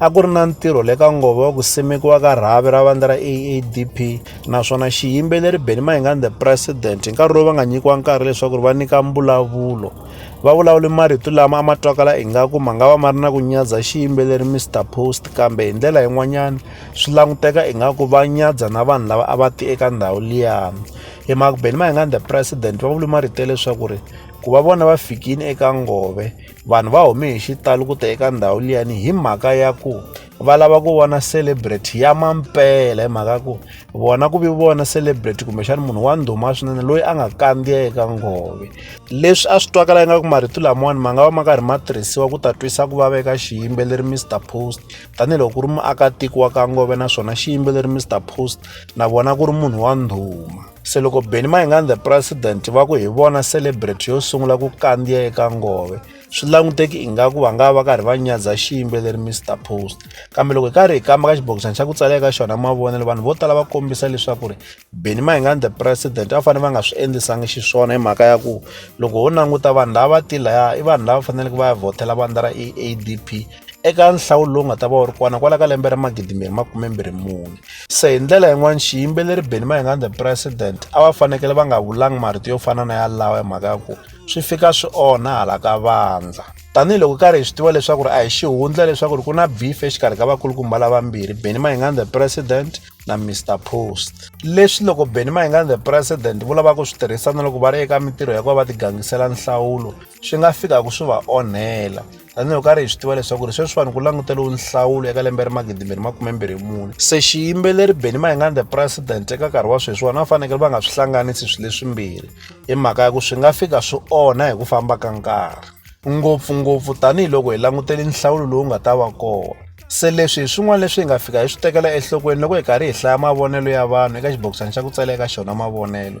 a ku ri na ntirho le ka nghovo wa ku simekiwa ka rhavi ra vandla ra AADP naswona xiyimbeleri Benny Mayengani the President hi nkarhi lowu va nga nyikiwa nkarhi leswaku ri va nyika mbulavulo va vulavule marito lama a ma twakala ingaku ma nga va ma ri na ku nyadza xiyimbeleri Mr Post kambe hi ndlela yin'wanyana swi languteka ingaku va nyadza na vanhu lava a va ti eka ndhawu liyani hi mhaka Benny Mayengani the President va vule marito ya leswaku ri ku va vona va fikile eka ngove vanhu va hume hi xitalo ku ta eka ndhawu liyani hi mhaka ya ku va lava ku vona celebrity ya mampela hi mhaka ku vona ku vi vona celebrity kumbexana munhu wa ndhuma swinene loyi a nga kandziya eka ngove leswi a swi twakala ingaku marito lamawani ma nga va ma karhi ma tirhisiwa ku ta twisa ku vava eka xiyimbeleri mr post tanihiloko ku ri muakatiko wa ka ngove naswona xiyimbeleri mr post na vona ku ri munhu wa ndhuma se loko benny mayingani the president va ku hi vona celebrate yo sungula ku kandziya eka ngove swi languteki ingaku va nga va karhi va nyadza xiyimbeleri mr post kambe loko hi karhi hi kamba ka xibokisana xa ku tsala eka xona mavonelo vanhu vo tala va kombisa leswaku ri benny mayingani the president va fanele va nga swi endlisangi xiswona hi mhaka ya ku loko ho languta vanhu lava va tilaya i vanhu lava faneleke va ya vhotela vandla ra eadp eka nhlawulo lowu nga ta va wu ri kona kwala ka lembe ra magidi mbirhi makume mbirhi mune se hi ndlela yin'wana xiyimbeleri beni mayingani the president a va fanekele va nga vulangi marito yo fana na yalawa hi mhaka ya ku swi fika swi onha hala ka vandza tanihiloko karhi hi swi tiva leswaku ri a hi xihundla leswaku ri ku na beef exikarhi ka vakulukumba lavambirhi benny mayingani the president na mr post leswi loko benny mayingani the president vo lava ku swi tirhisa na loko va ri eka mintirho ya ku va va tigangisela nhlawulo swi nga fikaka swi va onhela tanihi karhi hi swi tiva leswaku ri sweswi vanhu ku languteriwe nhlawulo eka lembe ri magidimbirhi makumembirhi mune se xiyimbeleri beni mayingani the president eka nkarhi wa sweswi vona va fanekele va nga swi hlanganisi swilo leswimbirhi hi mhaka ya ku swi nga fika swi onha hi ku famba ka nkarhi ngopfungopfu tanihiloko hi langutele nhlawulo lowu nga ta va kona se leswi hi swin'wana leswi hi nga fika hi swi tekela enhlokweni loko hi karhi hi hlaya mavonelo ya vanhu eka xibokisana xa ku tsala eka xona mavonelo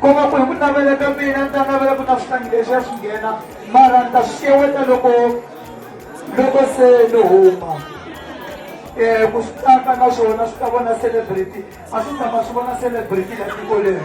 ku nga ku hi ku navela ka mina ni ta navela ku na swihlangi leswi ya swi nghena mara ni ta swi xeweta loko loko se ni huma um ku swi tsaka na swona swi ta vona celebrity a swi tshama swi vona celebrity la tiko leri